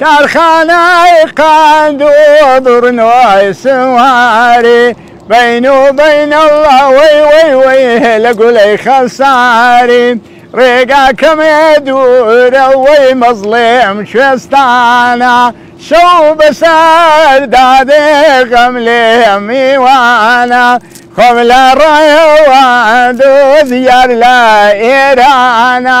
کارخانەی قەند و دڕنۆی سواری بین و بین اللە وەی وەی وەی لە گولەی خەساری ڕێگاکەمێ دوورە وەی مەزڵێم کوێستانە شەو بەسەر دادێ غەم لێم میوانە خۆم لە ڕێوە دۆزیار لە ئێرانە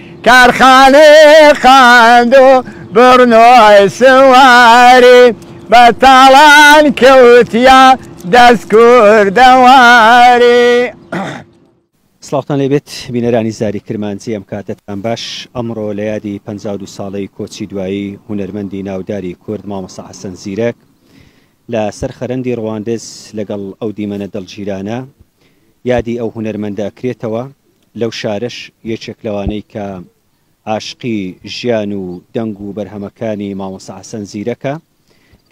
کارخانەی قەند و بڕنۆی سواری بە تاڵان کەوتیە دەست کوردەواری. سڵاوتان لێ بێت بینەرانی زاری کرمانجی ئەم کاتەتان باش ئەمڕۆ لە یادی پەنجا و دوو ساڵەی کۆچی دوایی هونەرمەندی ناوداری کورد مامۆستا حەسەن زیرەک لە سەر خەرەندی ڕواندز لەگەڵ ئەو دیمەنە دڵگیرانە یادی ئەو هونەرمەندە ئەکرێتەوە، لەو شارەش یەکێک لەوانەی کە عاشقی ژیان و دەنگ و بەرهەمەکانی مامۆستا حەسەن زیرەکە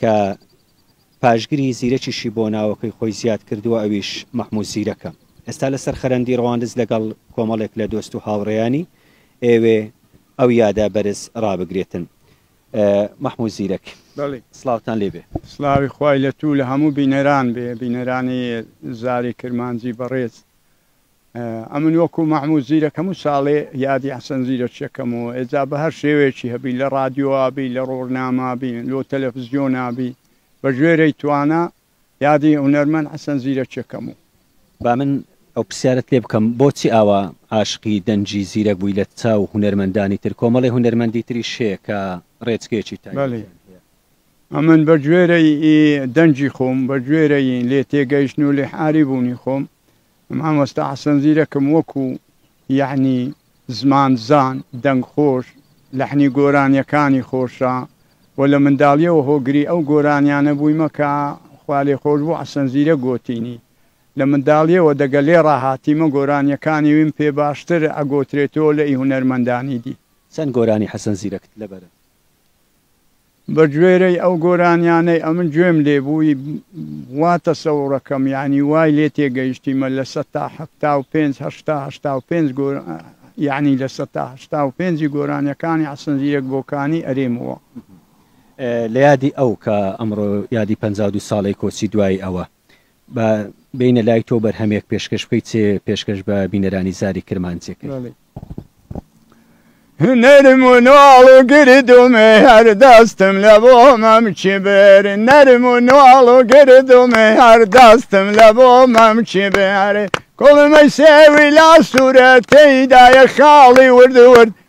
کە پاشگری زیرەکیشی بۆ ناوەکەی خۆی زیاد کردووە ئەویش مەحموود زیرەکە ئێستا لە سەر خەرەندی ڕواندز لەگەڵ کۆمەڵێک لە دۆست و هاوڕێیانی ئێوێ ئەو یادە بەرز ڕابگرێتن. مەحمود زیرەک بەڵی سڵاوتان لێ بێ. سڵاوی خوای لە توو لە هەموو بینەران بێ بینەرانی زاری کرمانجی بەڕێز ئەمن وەکوو مەحمود زیرەک هەموو ساڵێ یادی حەسەن زیرەکچەکەم و ئێجا بە هەر شێوەیەکی هەبی لە ڕادیۆ ئابی لە ڕۆرنامە بی لۆ تەلەفزیۆن ئابی بە ژێرەی توانا یادی هونەرمەند حەسەن زیرەکیەکەم و. با من ئەو پرسیارەت لێ بکەم بۆچی ئاوا عاشقی دەنگی زیرەک بووی لە چاو هونەرمەندانی تر کۆمەڵی هونەرمەندی تریش هەیە کە ڕێچکەیەکی بەلی تایبەتیان هەیە. ئەمن بە گوێرەی ئی دەنگی خۆم بە گوێرەی لێ تێگەیشتن و لێ حاری بوونی خۆم مامۆستا حەسەن زیرەکم وەکو یەعنی زمان زان دەنگ خۆش لەحنی گۆرانیەکانی خۆشە وە لە منداڵیەوە هۆگری ئەو گۆرانیانە بویمە کە خوا لێ خۆش بوو حەسەن زیرەک گۆتینی لە منداڵیەوە دەگە لێ ڕاهاتیمە گۆرانیەکانی ویم پێ باشتر ئەگۆترێتۆ لە ی هونەرمەندانی دی. چەند گۆرانی حەسەن زیرەکت لەبەرن؟ بەگوێرەی ئەو گۆرانیانەی ئەمن گوێم لێ بووی وا تەسەوڕەکەم یانی وای لێ تێگەیشتیمە لە سەتا حەفتا و پێنج هەشتا هەشتا و پێنج یانی لە سەتا هەشتا و پێنجی گۆرانیەکانی حەسەن زیرەک بۆکانی ئەرێمەوە. لە یادی ئەو کە ئەمڕۆ یادی پەنجا و دوو ساڵەی کۆچی دوایی ئەوە. با بێینە لای تۆ بەرهەمێک پێشکەش بکەیت چێ پێشکەش بە بینەرانی زاری کرمانجێکەکەی بەڵێ. هونەرم و نواڵ و گردومێ هەر دەستم لە بۆ مەم کیبێر نەرم و نواڵ و گردومێ هەر دەستم لە بۆ مەم کیبێر کوڵمەی سێوی لا سوورە تێیدایە خاڵی ورد ورد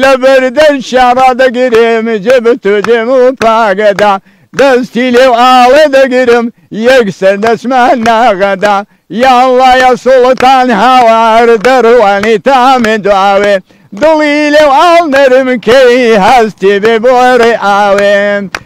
لە بەر دەنکیا ڕادەگرم جێ بە تۆ دێم و پاگەدا دەستی لێو ئاڵێ دەگرم یەکسەر دەچمە ناغەدا یا اللە یا سوڵتان هاوار دەڕوانی تامێ دواوێ دڵی لێو ئاڵ نەرم کەی هەستی بێ بۆ ڕێ ئاوێ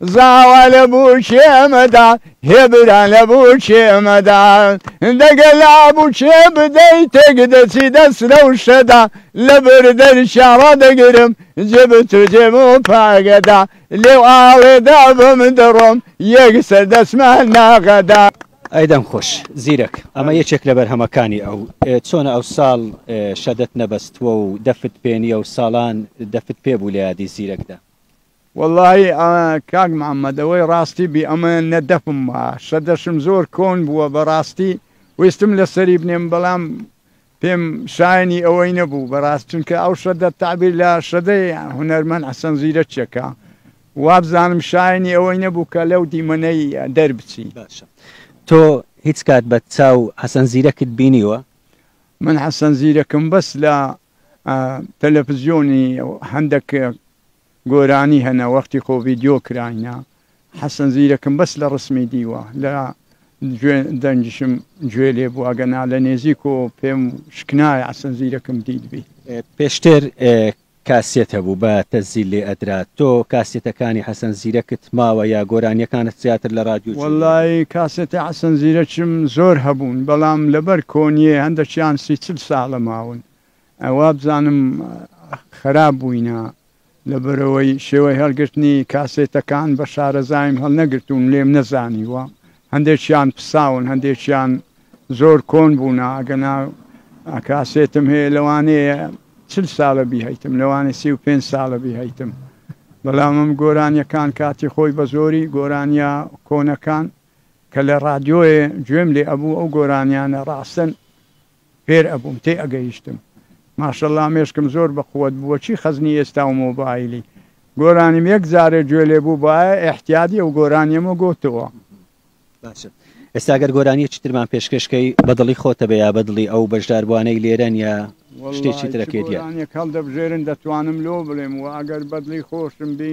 زاوا لە بووکێ مەدە، هێ برا لە بووکێ مەدە. دە گە لا بووکێ بدەی تێک دەچی دەس رەوشە دە. لە بر دەرکیا رادەگرم جێ بە تۆ جێم و پاگە دە. لێو ئاڵێ دا بم دڕۆم یەک سەر دەچمە ناغە دە. ئەی دەنگ خۆش زیرەک ئەمە یەکێک لە بەرهەمەکانی ئەو چۆنە ئەو ساڵ شەدەت نەبەستوە و دەفت پێنیە و ساڵان دەفت پێ بوو لە یادی زیرەک دا. وەڵاهی کاک محمد ئەوەی ڕاستی بی ئەمە نە دەفم ما شە دەشم زۆر کۆن بووە بەڕاستی ویستم لە سەری بنێم بەڵام پێم شایەنی ئەوەی نەبوو بەڕاست چونکە ئەو شە دە تابیر لە شەدەی هونەرمەند حەسەن زیرە چێکە وابزانم شایەنی ئەوەی نەبوو کە لەو دیمەنەی دەربچی. باشە تۆ هیچ کات بە چاو حەسەن زیرەکت بینیوە؟ من حەسەن زیرەکم بەس لە تەلەفزیۆنی هەندەک گۆرانی هەنە وەختی خۆ ڤیدیۆ کراینە حەسەن زیرەکم بەس لە ڕسمی دیوە لە جوێن دەنگیشم گوێ لێ بوو ئەگەنا لە نێزیکۆ پێم شکنایە عەسەن زیرەکم دیتبی. پێشتر کاسێت هەبوو بە تەسجیل لێ ئەدرا تۆ کاسێتەکانی حەسەن زیرەکت ماوە یا گۆرانیەکانت زیاتر لە ڕادیۆ گوێ لێ وەڵای ئەدەی؟ کاسێتی حەسەن زیرەکم زۆر هەبوون بەڵام لەبەر کۆنیێ هەندەکیان سی چل ساڵە ماون وابزانم خەراپ بووینە لەبەرەوەی شێوەی هەڵگرتنی کاسێتەکان بە شارەزایم هەڵنەگرتوون لێم نەزانیوە هەندێکیان پساون هەندێکیان زۆر کۆن بوونا ئەگەنا کاسێتم هەیە لەوانەیە چل ساڵە بیهیتم لەوانێ سی و پێ ساڵە بیهیتم بەڵام ئەم گۆرانیەکان کاتی خۆی بە زۆری گۆرانیا کۆنەکان کە لە ڕادیۆێ گوێم لێ ئەبوو ئەو گۆرانیانە ڕاستن فێر ئەبووم تێ ئەگەیشتم. ماشااللە مێشکم زۆر بە قوەت بوو چی خەزنی ئێستا و مۆبایلی گۆرانیم یەک جارێ گوێ لێ بوو بایە ئیحتیادی ئەو گۆرانیەمە گۆتوە. باشە ئێستا گەر گۆرانیەکی ترمان پێشکەش کەی بە دڵی خۆتەبێ یا بە دڵی ئەو بەژداربوانەی لێرەن یا شتێکی ترەکەی دیار. وەڵاهی چ گۆرانیەک هەڵدەبژێرن دەتوانم لۆ بڵێم وە ئەگەر بەدڵی خۆشم بی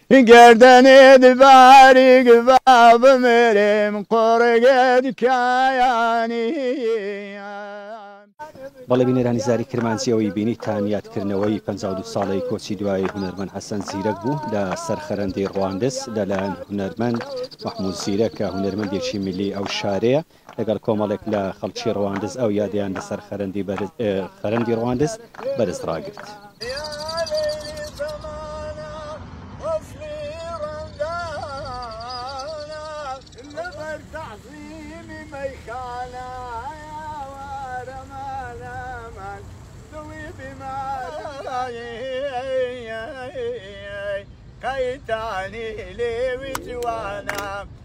گەردەنێت باریک با بمرم قوڕگت کایانی. بەڵێ بینەرانی زاری کرمانجی ئەوەی بینی تان یادکردنەوەی پەنجا و دوو ساڵەی کۆچی دوایی هونەرمەند حەسەن زیرەک بوو لە سەر خەرەندەی ڕواندز لە لایەن هونەرمەند مەحمود زیرەک کە هونەرمەندێکی میللی ئەو شارەیە. لەگەڵ کۆمەڵێک لە خەڵکی ڕواندز ئەو یادەیان لەسەر خەرەندی ڕواندز بەرز ڕاگرت.